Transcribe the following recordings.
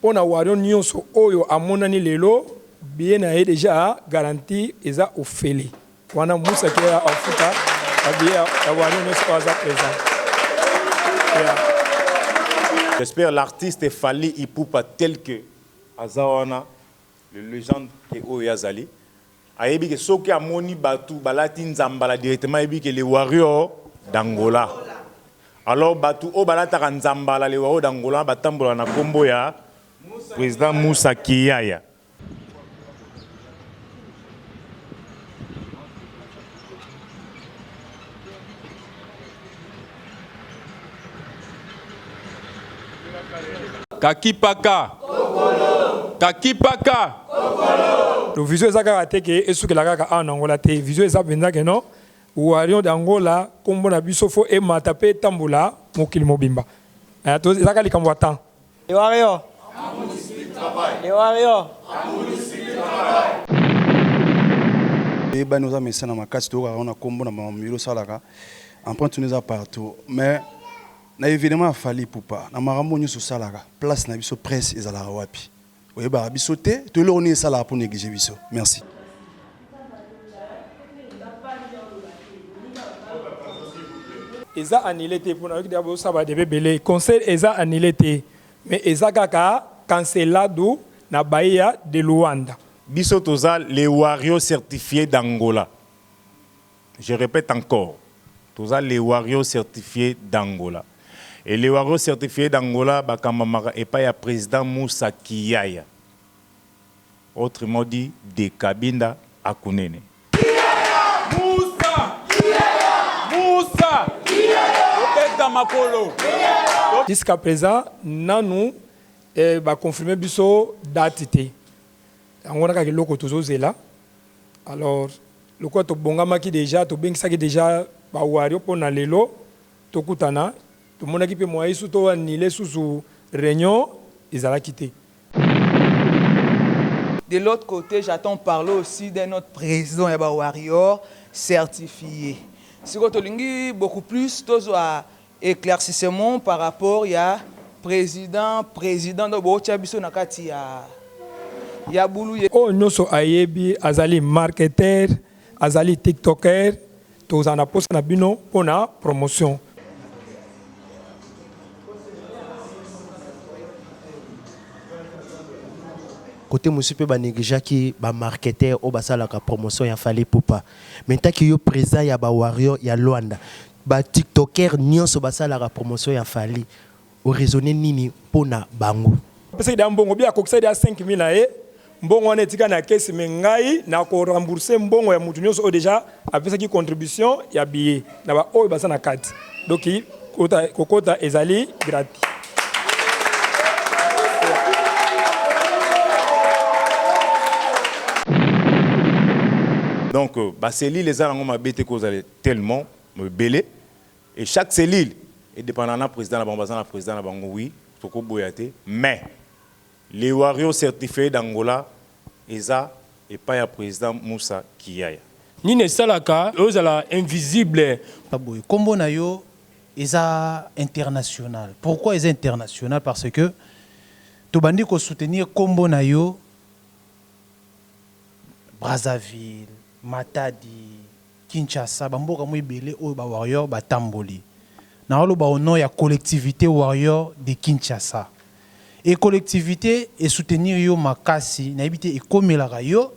Pona warrion nionso oyo amonani lelo billet naye dejà garanti eza ofele wana musa kiala afuta ba billet ya warrion nionso oyo aza present yeah. J'espère l'artiste Fally Ipupa tel que aza wana. Le legende ke oyo ye azali ayebi ke soki amoni batu balati nzambala directement ayebi ke le warrior d'Angola alors batu oyo balataka nzambala le warrior d'Angola batambolaka na kombo ya President Moussa Kiyaya. kakipaka kakipaka to vision eza kaka te ke esukela kaka awa na angola te vision eza mpenza ke non warion de angola nkombo na biso fo emata mpe etambola mokili mobimba eh, eza kaka likambo ya temps Les warriors. Les warriors. eyebani oza mesana makasi toyokaka wana nkombo na mamamilo osalaka empreinte no eza partout mais na événement ya fali pupa na makambo nyonso osalaka place na biso presse ezalaka wapi Oyebaka biso te to eloko nini esalaka po negliger biso. Merci. Eza annule te pona nayoki deja bozo sala ba debat ebele concert eza annule te mais eza kaka cancelado na Bahia de Luanda. Biso toza les warrios certifies d'Angola. Je repète encore toza les warrios certifies d'Angola et les warrios certifies d'Angola bakambamaka epai ya President Moussa Kiyaya autrement dit de Cabinda à Cunene. Kiyaya! Moussa! Kiyaya! Moussa! Kiyaya! Kobeta makolo! Kiyaya! Jusqu'à present nanu ba confirmer biso date te yango wana kaka eloko tozo zela. alors lokola tobongamaki dejà tobengisaki dejà ba warrior pona lelo tokutana tomonaki pe moyen lisusu to annuler susu reunion ezalaki te. De l'autre cote j'attends parler aussi d'un autre president ya ba warrior certifier sikoyo tolingi beaucoup plus tozua Eclaircissement par rapport ya president president donc bo tia biso na kati ya ya bulu. Oyo nioso ayebi azali marketeur azali tiktoker tokozala na posa na bino pona promotion. Cote mosusu pe ba negligeaki ba marketeurs oyo basalaka promotion ya Fally Ipupa. Mais ntaki yo president ya ba warrior ya Luanda Ba tiktokers nionso basalaka promotion ya Fally o raisonner nini mpo na bango? Apesaki dejà mbongo bien akokisaki dejà 5000 na ye mbongo wana etikali na caisse mais ngai na ko rembourse mbongo ya mutu nionso oyo dejà apesaki contribution ya billet na ba oyo baza na kati donc kokota ezali gratuit. Donc ba cellules eza nango mabe te ko zala. Tellement ebele et chaque cellule e dependaka na president na bango baza na president na bango oui toko boya te mais les warrios certifiee d'Angola eza epai ya president Musa Kiyaya. Nini esalaka yo ozala invisible? Eza boye, kombo na yo eza international, pourquoi eza international? Parce que tobandi ko soutenir kombo na yo Brazzaville, Matadi, Kinshasa ba mboka mwa ebele oyo ba warrior ba tamboli. Nao loba au nom ya collectivite warrior de Kinshasa. Et collectivite e soutenir yo makasi, nayebi te ekomelaka yo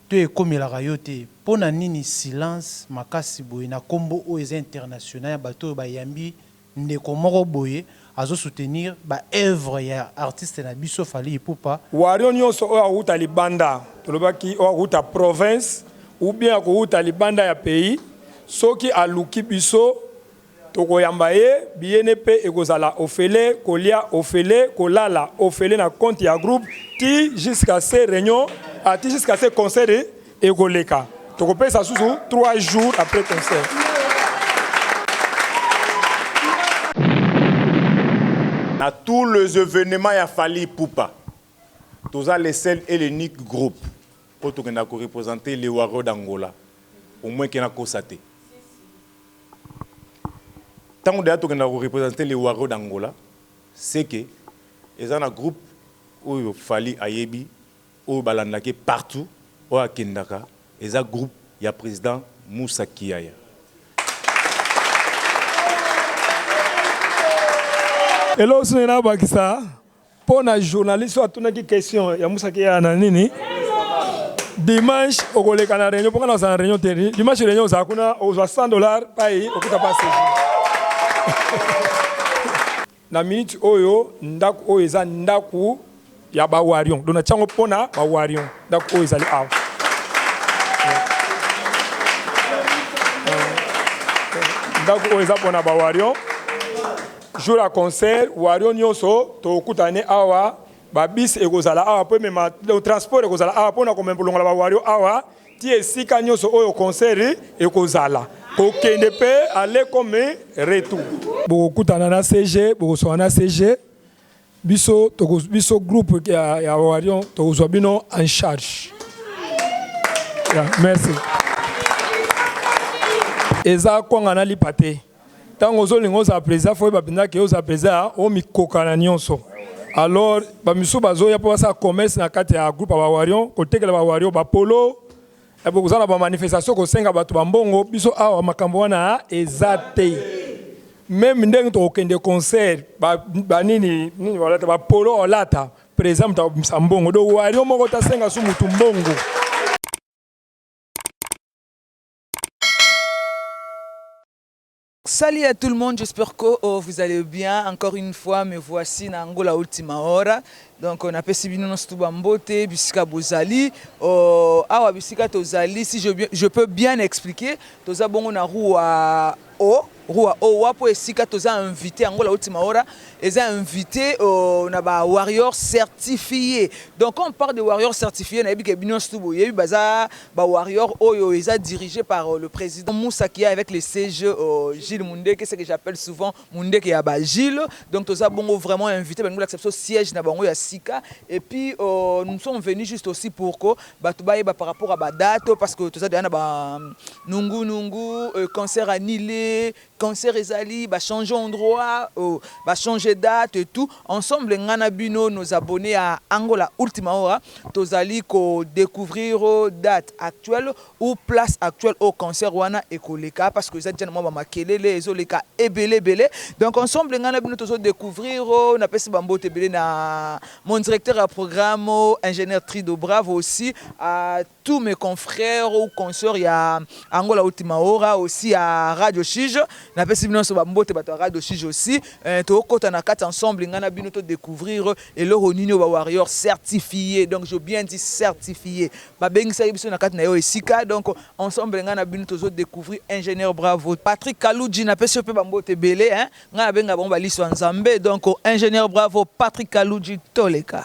to ekomelaka yo te. Pona nini silence makasi boye na kombo oyo eza international ya bato oyo ba yambi Ndeko moko boye azo soutenir ba oeuvres ya artiste na biso Fally Ipupa. Wario nionso oyo awuta libanda, tolobaki oyo awuta province ou bien akowuta libanda ya pays, soki aluki biso tokoyamba ye, billet ne pe ekozala ofele, kolia ofele, kolala ofele na compte ya groupe ti jusqu'à ce reunion, ti jusqu'à ce concert. Ekoleka. Tokopesa susu 3 jours après concert. Na tous les evenements ya Fally Ipupa, toza le seul et l'unique groupe oyo tokendaka ko representer les Warriors d'Angola, au moins que nakosa te. Tango dejà tokendaka ko representer les Warriors d'Angola, c'est que eza na groupe oyo Fally ayebi, oyo balandaka ye partout oyo akendaka eza groupe ya president Moussa Kiyaya. Eloko mosusu nalingi nabakisa mpo na journaliste oyo atunaki question ya Moussa Kiyaya na nini, dimanche okoleka na reunion mpo ngai nakozala na reunion te, dimanche reunion ozala kuna okozwa 100 dollars epayi okuta pa CG. Na minute oyo ndaku oyo eza ndaku ya ba warion donc natie yango pona ba warion ndaku oyo ezali awa ndaku oyo eza pona ba warion jour ya concert warion nyonso tokutane awa babis ekozala awa po emema donc transport ekozala awa pona komema kolongola ba warion awa Ti esika nionso oyo concert ekozala, kokende pe aller comme retour. Bokokutana na CG, bokosolola na CG, biso toko biso groupe ya ya Warion tokozwa bino en charge. Yeah, merci. Eza kwanga na lipa te. tango ozo linga ozala president faut oyeba penza ke ozala president ya omi kokana nionso alors ba misusu bazo ya po basala commerce na kati ya groupe ya ba warion kotekela ba warion ba polo et bokoza na ba manifestation kosenga batu ba mbongo biso awa makambo wana eza te meme ndenge tokokende concert ba, ba nini nini walata ba polo olata president moto akobimisa mbongo do warion moko tasenga su mutu mbongo Salut à tout le monde, j'espère que oh, vous allez bien. Encore une fois, me voici na Angola Ultima Hora. Donc on a pesi bino na stuba mbote bisika bozali. Oh, awa bisika tozali si je, je peux bien expliquer, toza bongo na rua O rua o wa po esika toza invite angola o timaora eza invite o na ba warrior certifie donc quand on parle de warrior certifie na yebi ke bino nionso tout bo yebi baza ba warrior oyo eza dirige par le president musa qui est avec le CG o Gilles mundeke ce que j'appelle souvent mundeke ya ba Gilles donc toza bongo vraiment invite balingi bolakisa biso siège na bango ya sika et puis o nous sommes venus juste aussi pour ko batu bayeba par rapport ya ba date oyo parce que toza dejà na ba nungu nungu concert annule concert ezali ba change endroit ba change date et tout ensemble nga na bino nos abonnes ya angola ultima hora tozali ko decouvrir date actuelle ou place actuelle oyo concert wana ekoleka parce que eza dejà na mwa ba makelele ezo leka ebele ebele donc ensemble nga na bino tozo decouvrir napesi ba mbote ebele na Mon directeur ya programme ingenieur Trido bravo aussi à tous mes confrères ou consoeurs ya Angola Ultimaora aussi ya Radio Shige na pesi bino so ba mbote bato ya Radio Shige aussi euh, to kota na kati ensemble ngana bino to découvrir eloko nini ba warrior certifié donc je bien dit certifié ba bengisa biso na kati na yo esika donc ensemble ngana bino tozo découvrir ingénieur bravo Patrick Kaluji na pesi pe ba mbote belé hein Ngai na benga bango ba lisu ya nzambe donc ingenieur bravo Patrick kaludji toleka.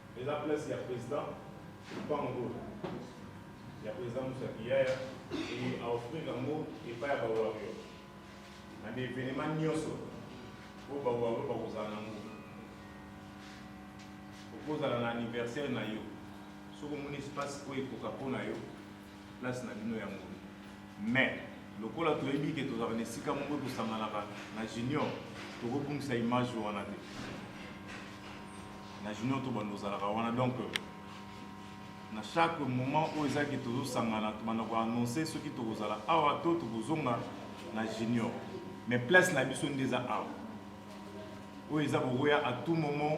Eza place ya president lupango oyo ya president Moussa Kiyaya et a offrir yango epai ya ba warrior na ba evenement nyonso oyo ba warrior bakozala nango. Okozala na anniversaire na yo soki omoni espace oyo ekoka mpo na yo place na bino ya ngolu mais lokola toyebi ke tozalaka na esika moko tosanganaka na junior tokobungisa image wana te na junior tobanda ozalaka wana donc na chaque moment oyo eza ke tozosangana tobanda koannonce soki tokozala awa to tokozonga na junior mais place na biso nde eza awa oyo eza kokoya à tout moment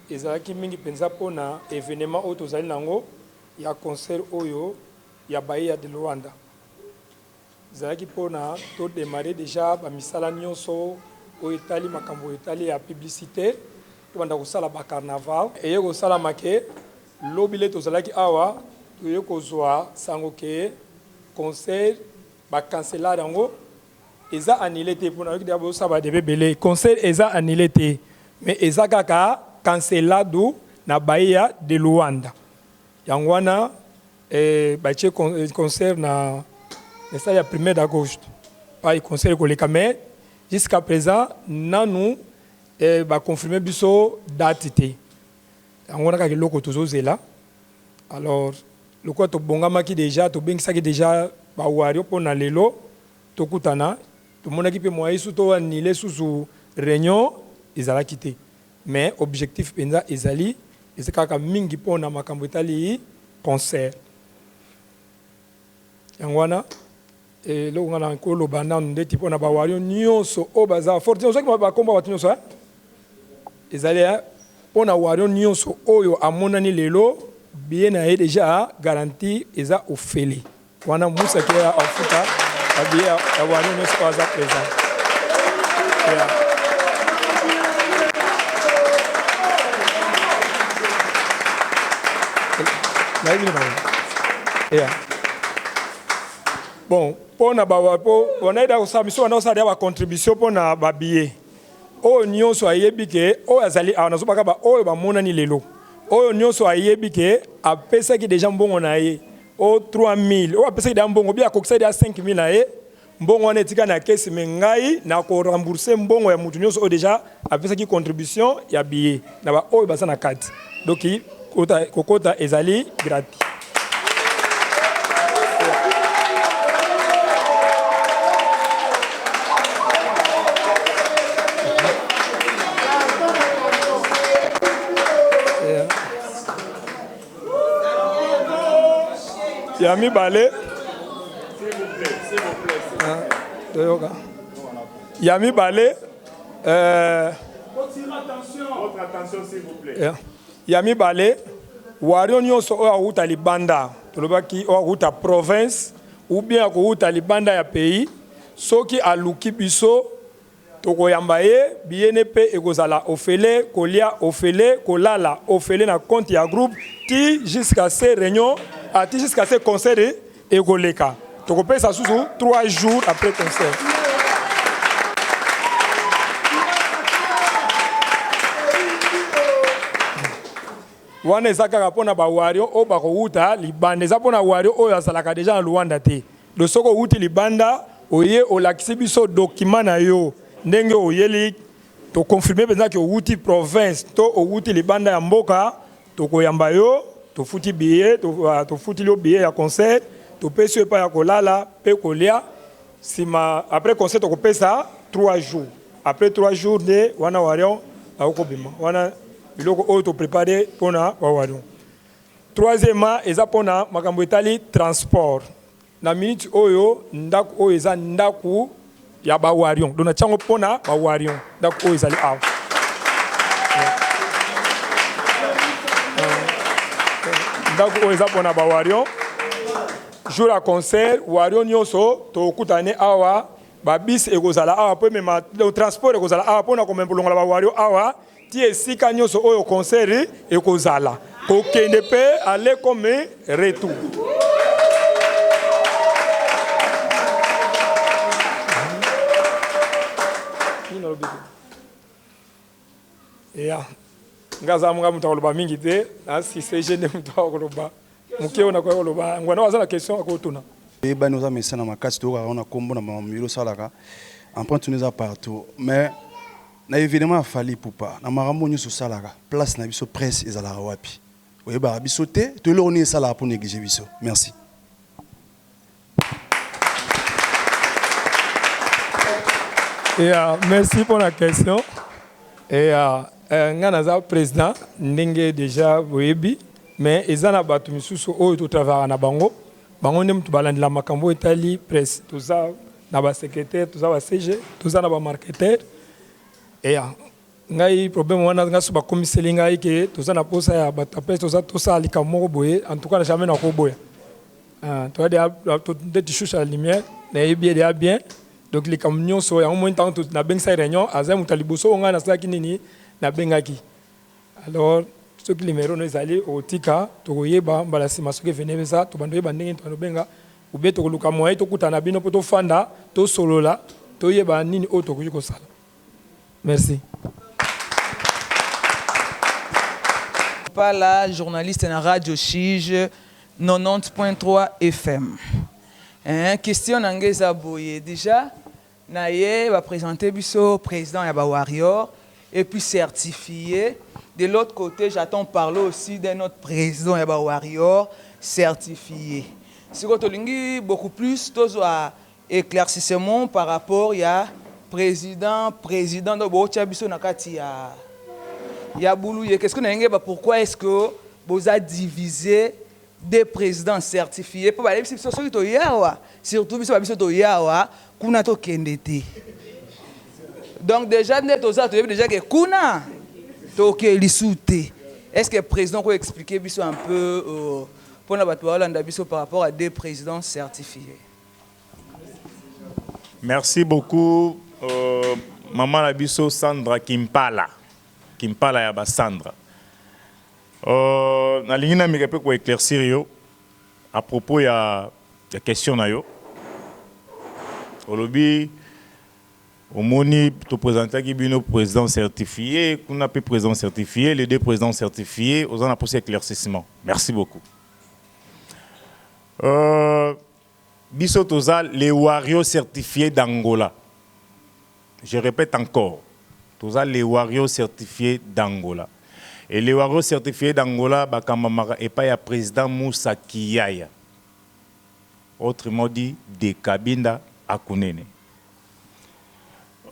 Ezalaki mingi mpenza mpo na evenema oyo tozali na yango ya concert oyo ya Bahia de Luanda. Ezalaki mpo na to demarrer dejà ba misala nionso oyo etali makambo etali ya publicite, tobanda kosala ba carnaval. Eye kosalama ke, lobi lei tozalaki awa, toye kozua sango ke concert ba canceller yango Eza annule te pona yoki deja bozo sala ba debat ebele concert eza annule te mais eza kaka cancelado na bahia de luanda yango wana batie concert na stade ya primaire d'augusto epayi concert ekoleka mais jusqu'à present nanu ba confirmer biso date te yango wana kaka eloko tozo zela. alors lokola tobongamaki dejà tobengisaki dejà ba warrior pona lelo tokutana tomonaki pe moyen lisusu to annuler susu reunion ezalaki te mais objectif penza ezali eza kaka mingi pona makambo etali concert yango wana Eloko nga na ko loba nanu ndeti pona ba warion nioso oyo baza fort te ozwaki ba kombo ya batu nioso hein ezali hein pona warion nioso oyo amonani lelo billet na ye dejà garanti eza ofele wana musa ke ya ofuta ba billet ya warion nioso oyo aza present yeah. Nayebi na bango yeah. Bon, mpo na bawa mpo bonaida akosala miso wana osala ba contribution mpo na ba billets oyo nyonso ayebi ke oyo azali awa nazobaka ba oyo bamonani lelo oyo nyonso ayebi ke apesaki deja mbongo na ye o 3000 oyo apesaki deja mbongo bi akokisaki deja 5000 na ye mbongo wana etikali na kesi me ngai nako rembourse mbongo ya moto nyonso oyo deja apesaki contribution ya billet na ba oyo baza na kati donc kota kokota ezali gratuit. ya mibale ah, toyoka ya mibale Ya mibale, wario nionso oyo akowuta libanda, tolobaki oyo akowuta province ou bien akowuta libanda ya pays, soki aluki biso tokoyamba ye, billet ne mpe ekozala ofele, kolia ofele, kolala ofele na compte ya groupe tii jusqu'à ce reunion, tii jusqu'à ce conseil de. Ekoleka. Tokopesa susu trois jours après concert. wana eza kaka mpo na bawario oyo bakowuta libanda eza mpo na wario oyo azalaka deja na luanda te do soki owuti libanda oye olakisi biso dokima na yo ndenge oyeli tokonfirme mpenza ke owuti province to owuti libanda ya mboka Tokoyamba yo, tofuti billet, tofutili yo billet ya concert, topesi yo epai ya kolala pe kolia. Sima après concert tokopesa 3 jours. Après 3 jours nde wana Warion akobima. Wana biloko oyo to preparer pona ba Warion. Troisièmement eza pona makambo etali transport. Na minute oyo ndaku oyo eza ndaku ya ba warion donc natia yango pona ba warion ndaku oyo ezali awa ndaku oyo eza pona ba warion jour ya concert warion nyonso tokutane awa babisi ekozala awa mpo emema transport ekozala awa mpona komema kolongola ba warion awa Ti esika nionso oyo concert ekozala, kokende pe aller comme retour. ya nga aza nga moto akoloba mingi te nasise je nde moto akoloba moke oyo nakoki koloba yango wana aza na question akotuna eyebani oza mesana makasi toyokaka wana nkombo na mamamilo osalaka empreinte tuna eza partout mais Na evenement ya Fally Ipupa na makambo oyo nionso osalaka place na biso presse ezalaka wapi? Oyebaka biso te to eloko nini esalaka po negliger biso? Merci. Ya merci pona question ya nga naza president ndenge dejà boyebi mais eza na batu misusu oyo to travaillaka na bango Bango nde mutu balandela makambo oyo etali presse. Toza na ba secretaire, toza ba CG, toza na ba marketeur ea ngai problème wana ngai soki bakomiseli ngai ke toza na posa ya batu ya presse toza tosala likambo moko boye en tout cas na jamais nakoboya. Toza deja nde tu chouche à la lumière nayebi ye deja bien donc likambo nionso yango omoni tangu nabengisaki reunion azali mutu ya liboso oyo ngai nasalaki nini nabengaki. Alors soki numero no ezali okotika tokoyeba mbala sima soki evene eza tobanda oyeba ndenge nini tobenga oubien tokoluka moyen tokutana na bino mpo tofanda tosolola toyeba nini oyo tokoki kosala merci Pala journaliste na radio shige 90.3 FM eeh question na nga eza boye dejà na ye ba presenter biso president ya ba warrior et puis certifie de l'autre cote j'attends parler aussi d'un autre president ya ba warrior certifie sikoyo tolingi beaucoup plus tozua eclaircissement par rapport ya president president donc botia biso na kati ya ya bulu ye question na ye ngeba pourquoi est ce que boza divise de president certifie po bayebisi biso soki toye awa surtout biso ba biso toye awa kuna tokende te donc dejà nde toza toyebi dejà ke kuna toke lisu te est ce que president oko explique biso un peu uh, pona bato baolanda biso par rapport à de president certifie Merci beaucoup euh, maman na biso Sandra Kimpala Kimpala ya ba Sandra Euh, nalingi nameka pe ko eclaircir yo à propos ya ya question na yo. Olobi omoni to presentaki bino president certifie kuna pe president certifie, les deux presidents certifie, oza na posa ya eclaircissement. Merci beaucoup. Euh, Biso toza les warrios certifies d'Angola je repete encore toza les warrios certifies d'Angola et les warrios certifies d'Angola bakambamaka epai ya President Moussa Kiyaya autrement dit de Cabinda Akunene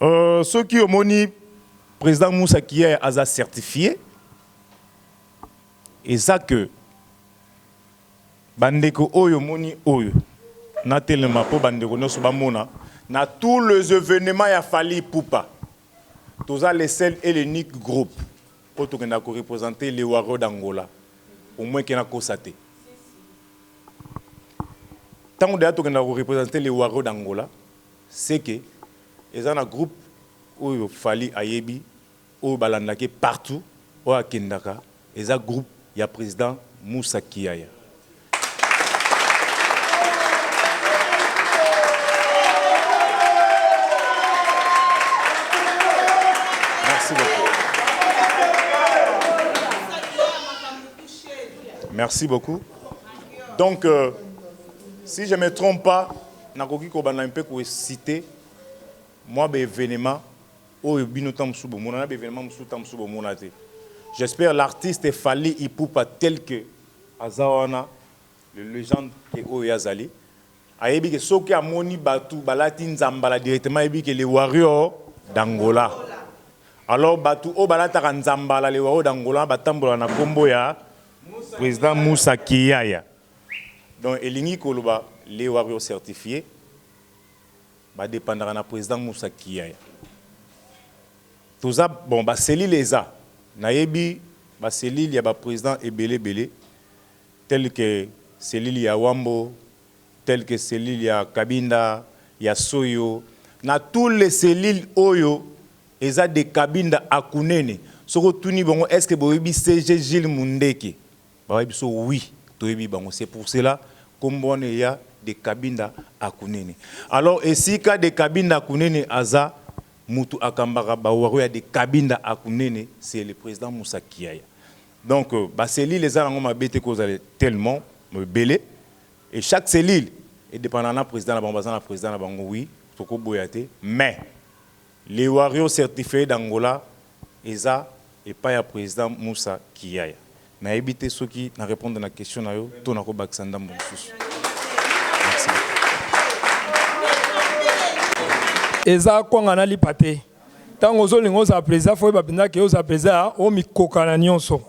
euh soki omoni President Moussa Kiyaya aza certifie eza que Ba ndeko oyo omoni oyo na telema po ba ndeko nioso ba mona na tout les evenements ya Fally Ipupa toza le seul et l'unique group oyo tokendaka ko representer les warrior d'Angola au moins ke na kosa te tangu dejà tokendaka ko representer les warrior d'Angola ce ke eza na group oyo Fally ayebi oyo balandaka ye partout oyo akendaka eza groupe ya president Moussa Kiyaya. Merci beaucoup. Merci beaucoup. Donc, euh, si je ne me trompe pas, nakoki kobanda mpe kosite mwa baevenema Oyo bino tango mosusu bomona na ba evenements mosusu tango mosusu bomona te. J'espère l'artiste Fally Ipupa tel que aza wana le legende que oyo ye azali ayebi que soki amoni batu balati nzambala directement ayebi que le warrior d'Angola. Alors batu oyo balataka nzambala le warrior d'Angola batambolaka na kombo ya President Moussa Kiyaya. Donc elingi koloba le warrior certifie. Ba dependaka na president musa kiee toza bon ba cellules eza nayebi ba cellules ya ba president ebele ebele tel que cellules ya wambo tel que cellules ya kabinda ya soyo na tout les cellules oyo eza de kabinda à kunene soki otuni bango est ce que boyebi CG Jules mundeke Babaye biso oui toyebi bango c'est pour cela kombo wana eya de kabinda à kunene alors esika de kabinda à kunene aza mutu akambaka ba warrior ya de kabinda à kunene c'est le president musa kiaya donc ba cellules eza nango mabe te kozala tellement ebele et chaque cellule e dependaka na president na bango baza na president na bango oui tokoboya te mais Le warrior certifee d'Angola eza epai ya president Musa Kiyaya. Nayebi te soki na repondre na question na yo to nako bakisa ndambu mususu. Merci beaucoup. Eza kwanga na lipa te. Tango ozo linga ozala president faut oyeba penza ke ozala president ya omikoka na nionso.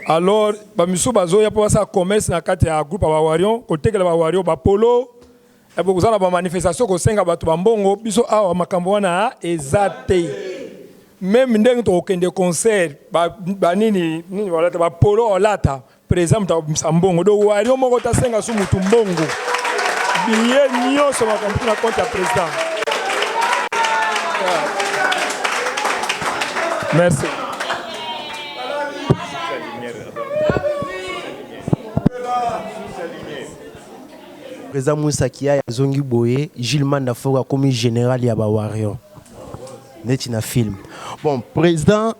Alors ba misusu bazoya po basala commerce na kati ya groupe ya ba warrion, kotekela ba warrior ba polo, Eh, bokoza na bamanifestation kosenga bato bambongo biso awa makambo wana eza te meme ndenge tokokende concert banini nini balata bapolo olata président moto akobimisa mbongo do wario moko tasenga su motu mbongo biye nyonso makambo tuna compte ya président merci President Muisa Kiaye azongi boye Jules Manda Foko akomi general ya ba warrions neti na film. Bon president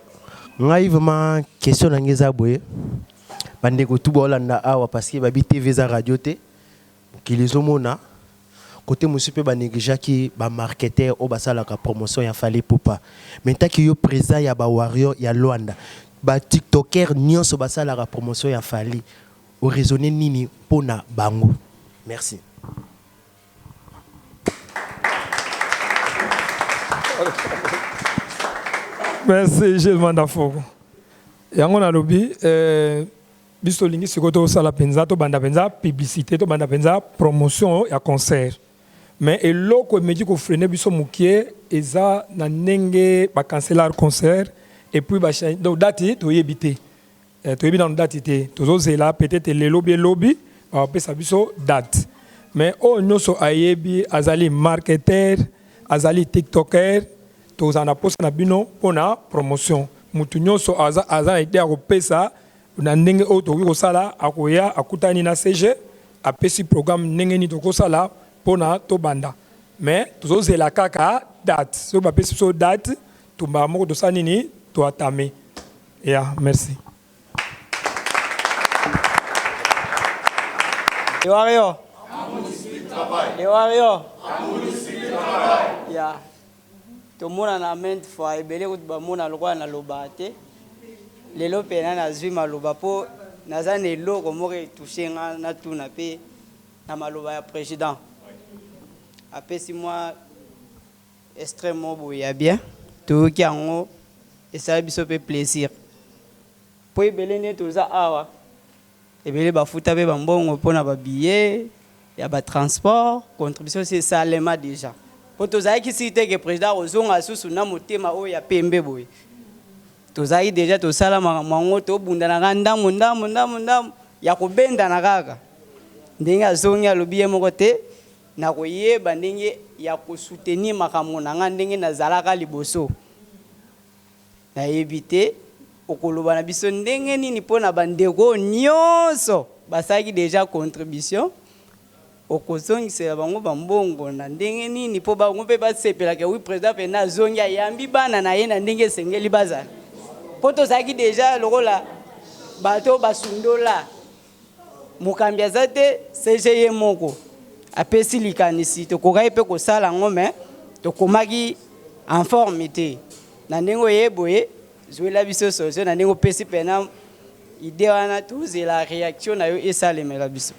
ngai vraiment question na ngai eza boye ba ndeko tout baolanda awa parce que babi TV eza radio te mokili ezomona kote mosusu mpe ba negligaki ba marketeur oyo basalaka promotion ya Fally Ipupa mais ntaki yo president ya ba warriors ya Luanda ba tiktoker nyonso basalaka promotion ya Fally O raisonner nini mpo na bango? Merci. Merci Gilles Mandafogo. Yango nalobi eh, biso tolingi sikoyo tosala mpenza tobanda mpenza publicité tobanda mpenza promotion ya concert mais eloko emeki kofrene biso mokie eza na ndenge bacancelar concert epuis donc date toyebi te Eh, toyebi nanu date te, tozozela peut-être lelo bie lobi bakopesa biso date. Mais oyo oh, nyonso ayebi azali marketeur, azali tiktoker, tozala na posa na bino pona promotion. Mutu nyonso aza, aza na idee ya kopesa na ndenge oyo tokoki kosala, akoya akutani na CG apesi programme ndenge nini tokosala pona tobanda. Mais tozozela kaka date, soki bapesi biso date, tumba moko tosala nini, toatame. Ya, merci. Yo Wario. Yo Wario. Ya. Tomonana ment fois ebele kutu bamona lokola nalobaka te. Lelo mpe nani azwi maloba mpo naza na eloko moko etushe nga natuna mpe na maloba ya president apesi mwa Extrait moko boye ya bien toyoki yango esala biso pe plaisir po ebele nde toza awa ebele bafuta pe ba mbongo pona ba billet ya ba transport contribution esi esalema dejà po tozalaki sur te que president akozonga lisusu na motema oyo ya pembe boye tozalaki dejà tosala makambo yango tobundanaka ndambu ndambu ndambu ndambu ya kobendana kaka ndenge azongi alobi ye moko te Nakoyeba ndenge ya ko soutenir makambo na ngai ndenge nazalaka liboso? Nayebi te. Okoloba na biso ndenge nini mpo na bandeko oyo nyonso basalaki dejà contribution? Okozongisela bango ba mbongo na ndenge nini mpo bango mpe basepela que oui President Fernand azongi, ayambi bana na ye na ndenge esengeli bazala? Mpo tozalaki dejà lokola bato oyo basundola. Mokambi aza te, CG ye moko apesi likanisi. Tokokaki mpe kosala yango mais tokomaki en forme te. Na ndenge oye boye, zuela biso solution na ndenge opesi mpe na idee wana, tozela reaction na yo esalemela biso.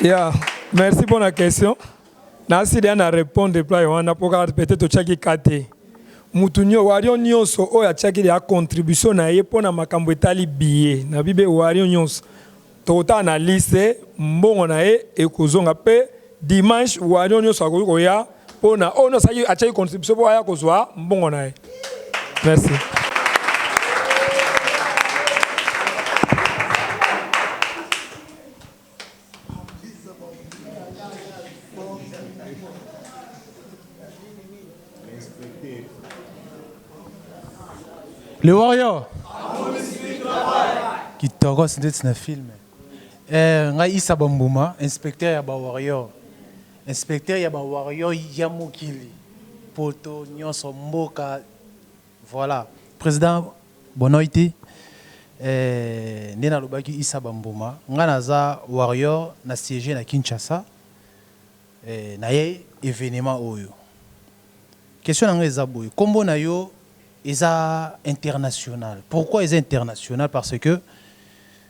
Yeah, merci pona question. Nasilia na repondre reply wana po kaka peut etre otiaki cas te. Mutu nio, warrion nionso oyo atiaki dejà contribution na ye pona makambu etali billet na bibe, warrion nionso tokotala na liste mbongo na ye ekozonga pe dimanche warrion nionso akoki koya pona oyo nionso atiaki contribution po aya kozua mbongo na ye. Merci. Le warrior kitokos ndeti na filme eh, ngai isa bambuma inspecteur ya bawarrior inspecteur ya bawarrior ya mokili poto nyonso mboka Voilà president bonoiti eh nde na lobaki issa ba mbuma nga na za warrior na siege na Kinshasa eh na ye evenement oyo question na nga eza boye kombo na yo eza international pourquoi eza international parce que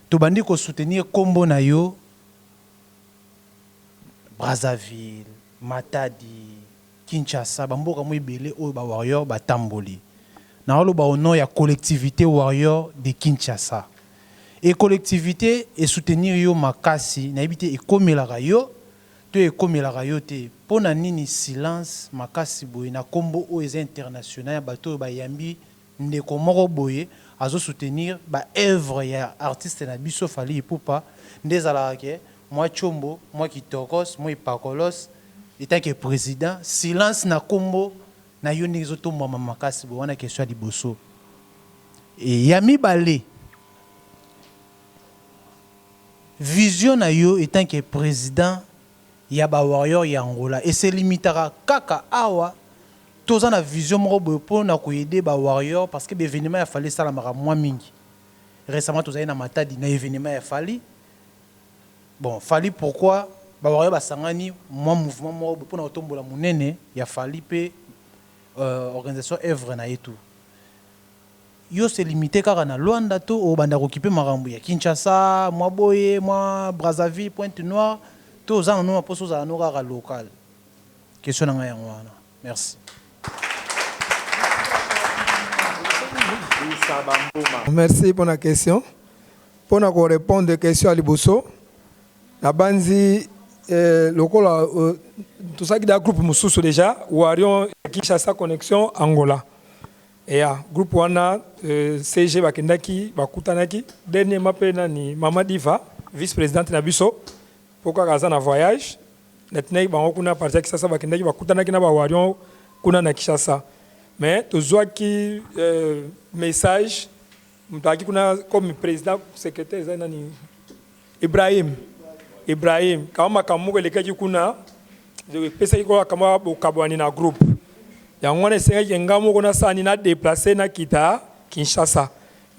to bandi ko soutenir kombo na yo Brazzaville matadi Kinshasa ba mboka mwa ebele oyo ba warrior ba tamboli. Nao loba au nom ya collectivite warrior de Kinshasa. Et collectivite e soutenir yo makasi, na yebi te ekomelaka yo to ekomelaka yo te. Pona nini silence makasi boye na kombo oyo eza international ya bato oyo ba yambi. Ndeko moko boye azo soutenir ba oeuvres ya artiste na biso Fally Ipupa nde ezalaka ke mwa tshombo, mwa kitokoss, mwa epakolos etant ke president silence na kombo nayo ndenge ezo tombwama makasi boye wana question ya liboso et ya mibale vision nayo etant ke president ya ba warrior ya Angola e se limitaka kaka awa, to za na vision moko boye po na ko aider ba warrior parce que ba evenements ya Fally e salamaka mua mingi, recemment to zali na Matadi na evenement ya Fally, bon Fally pourquoi ba warrior ba sangani mua mouvement moko boye po na ko tombola munene ya Fally pe organisation œuvre na ye tout. Yo se limiter kaka na Luanda to obanda ko kipe makambu ya Kinshasa, mwa boye, mwa Brazzaville, Pointe Noire to oza na noma posa ozala no kaka local? Question na ngai yango wana. Merci. Merci pona question. Pona ko repondre question ya liboso, na banzi lokola tosalaki dejà groupe mususu dejà Warrion Kinshasa connection Angola. Eya groupe wana CG bakendaki bakutanaki dernièrement mpe nani maman Diva vice presidente na biso mpo kaka aza na voyage natinaki bango kuna à partir ya Kisasa bakendaki bakutanaki na ba Warion kuna na Kishasa mais tozwaki message Moto ayaki kuna comme president secretaire eza nani Ibrahim Ibrahim kama makambo moko elekaki kuna epesaki kola kama bokabwani na groupe yango wana esengaki nga moko nasani na deplace nakita Kinshasa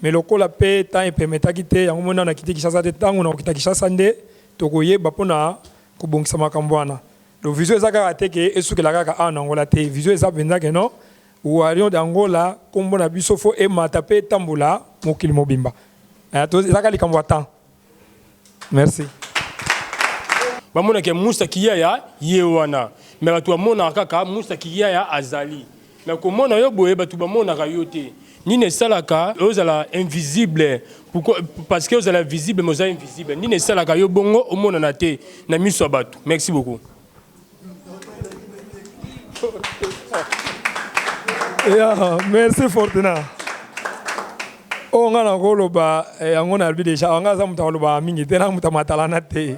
me lokola mpe temps epemetaki te yango mona nakiti Kinshasa te ntango nakokita Kinshasa nde tokoyeba mpo na kobongisa makambo wana donc vision eza kaka te ke esukela kaka awa na Angola te vision eza mpenza ke non Warrion d'Angola kombo na biso faut emata pe etambola mokili mobimba toza eza kaka likambo ya temps merci. Bamona ke Musta Kiyaya ye wana mais batu bamonaka kaka Musta Kiyaya azali mais komona yo boye batu bamonaka yo te nini esalaka ozala invisible pourquoi parce que ozala visible mais oza invisible nini esalaka yo bongo omonana te na miso ya batu merci beaucoup. Yeah, merci Fortuna. oyo ngai nakoloba eh, yango nalobi deja awa ngai aza moto akoloba mingi te na moto amatalana te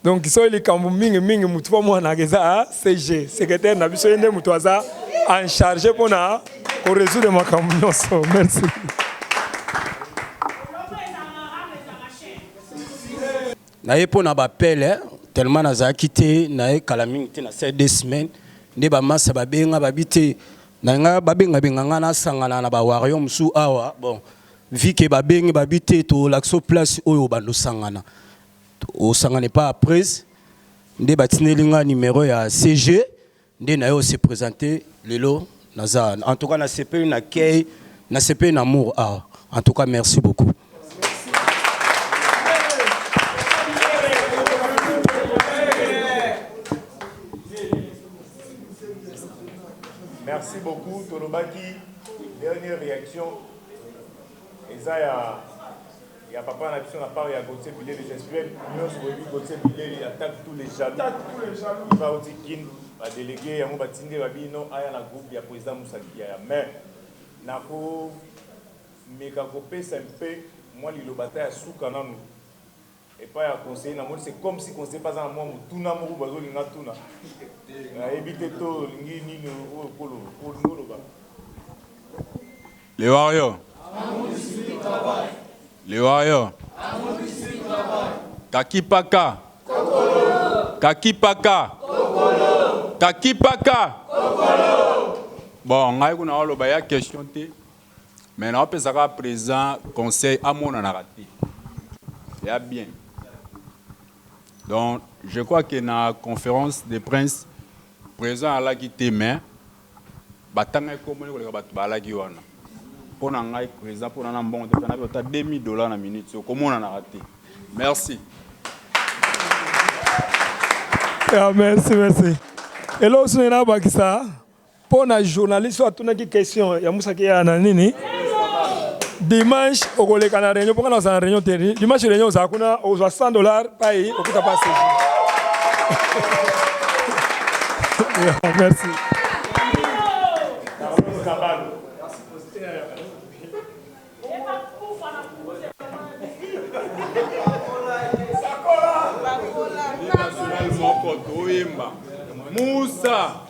donc soki likambo mingi mingi motu mpo mwanaka eza ah, cg secrétaire na biso ye nde moto aza en charge mpo na koresoudre makambo nyonso merci Na ye pona ba appel eh tellement na zalaki te na ye kala mingi te na sali deux semaines nde ba masta ba benga ba bi te na nga ba benga benga nga na sangana na ba warrior mususu awa bon vue que ba bengi ba bi te to lakisa yo place oyo obanda osangana osangana epa ya Prez nde ba tindeli nga numero ya CG Nde naye o se presenter lelo naza en tout cas na sepeli na accueil na sepeli na amour awa en tout cas merci beaucoup. Merci beaucoup tolobaki dernière reaction eza ya Ya papa na biso na part ya Gauthier Bilele gestuel nionso boyebi Gauthier Bilele attaque tous les jaloux viva awuti kin ba delegues yango batindi Rabino aya na groupe ya president Musa Kiyaya mais nako meka kopesa un peu mua liloba ata ya suka nanu epai ya conseiller namoni c'est comme si conseiller pe aza na mua motuna moko boye azolinga atuna nayebi te to olingi nini oyo oloba. Les warriors. Les warriors. Kakipaka. Kakipaka. Kakipaka. Bon, ngai kuna oloba ya question te. Mais na opesa ka président conseil amona na raté. Ya bien. Donc, je crois que na conférence de prince président alaki te mais Batangaki kombo naye koleka batu balaki wana. Pona ngai president pona na mbongo te pona nape ata 2000 dollars na minutes oyo komonanaka te. Merci. Yeah, merci, merci. Hello, Sunena Bakisa. Pona journaliste atunaki question ya musaki ya na nini? dimanche okoleka na réunion mpo kana ozala na réunion te dimanche réunion ozala kuna ozwa 100 dollars pai okuta pasi merci Musa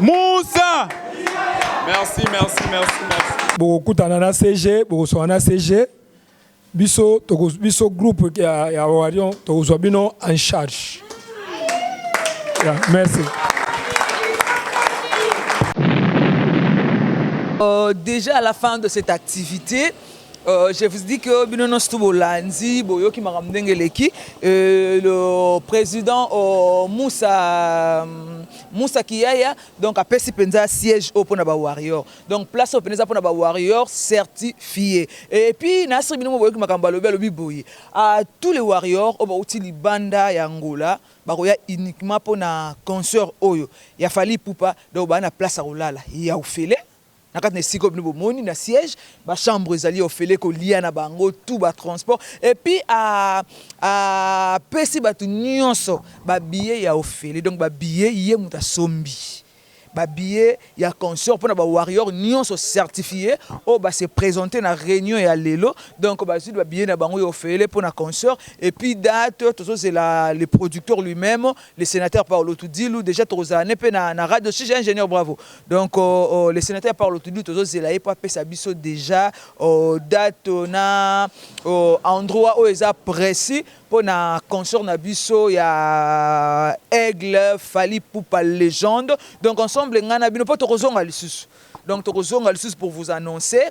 Moussa Merci, merci, merci, merci. bokokutana na cg bokoswana na cg biso toko- biso groupe ya, ya warion tokozwa bino en charge yeah, merci Euh, déjà à la fin de cette activité, Euh, je vous dis que bino nyonso tu bolandi boyoki makambo ndenge eleki euh, le président oh, Moussa Moussa Kiyaya donc apesi mpenza siège oyo mpo na ba warrior donc place oyo mpenza eza mpo na ba warrior certifié et puis na asiri bino mo boyoki makambo alobi alobi boye à tous les warriors oyo bauti libanda ya Angola bakoya uniquement mpo na concert oyo ya Fally Ipupa donc baa na place ya kolala ya ofele na kati na esika oyo bino bomoni na siège ba chambre ezali ofele kolia na bango tout ba transport et puis a a pesi bato nyonso ba billet ya ofele donc ba billet ye moto asombi ba billet ya concert mpo na ba warrior nyonso certifie oyo ba se présenter na réunion ya lelo donc bazwi ba billet na bango ya ofele mpo na concert et puis date tozozela le producteur lui-même le senateur Paulo Tudilu dejà tokozala ne mpe na, na radio sija ingénieur bravo donc uh, uh, le senateur Paulo Tudilu tozozela ye mpo apesa biso dejà uh, date uh, na uh, endroit oyo eza précis mpo na concert na biso ya aigle fali pupa légende donc ensemble ngai na bino mpo tokozonga lisusu donc tokozonga lisusu pour vous annoncer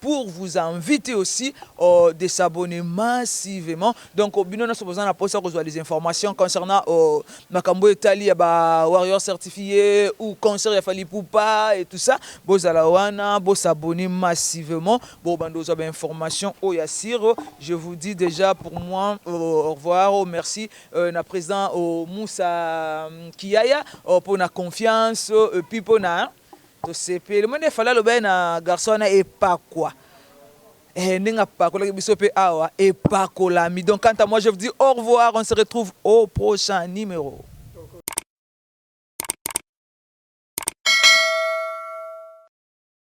pour vous envite aussi de s'abonner massivement donc bino nionso boza na posa kozua les informations concernant makambo oyo etali ya ba warrior certifie ou concert ya Fally Ipupa et tout ça bozala wana bo s'abonner massivement bo banda kozua ba information oyo ya sur je vous dis dejà pour moi au revoir merci na president Moussa Kiyaya pona confiance et puis pona Tosepeli omoni nde fally alobaki na garçon wana epakwa eeh ndenge apakolaki biso pe awa epakolami donc quant à moi je vous dis au revoir on se retrouve au prochain numero.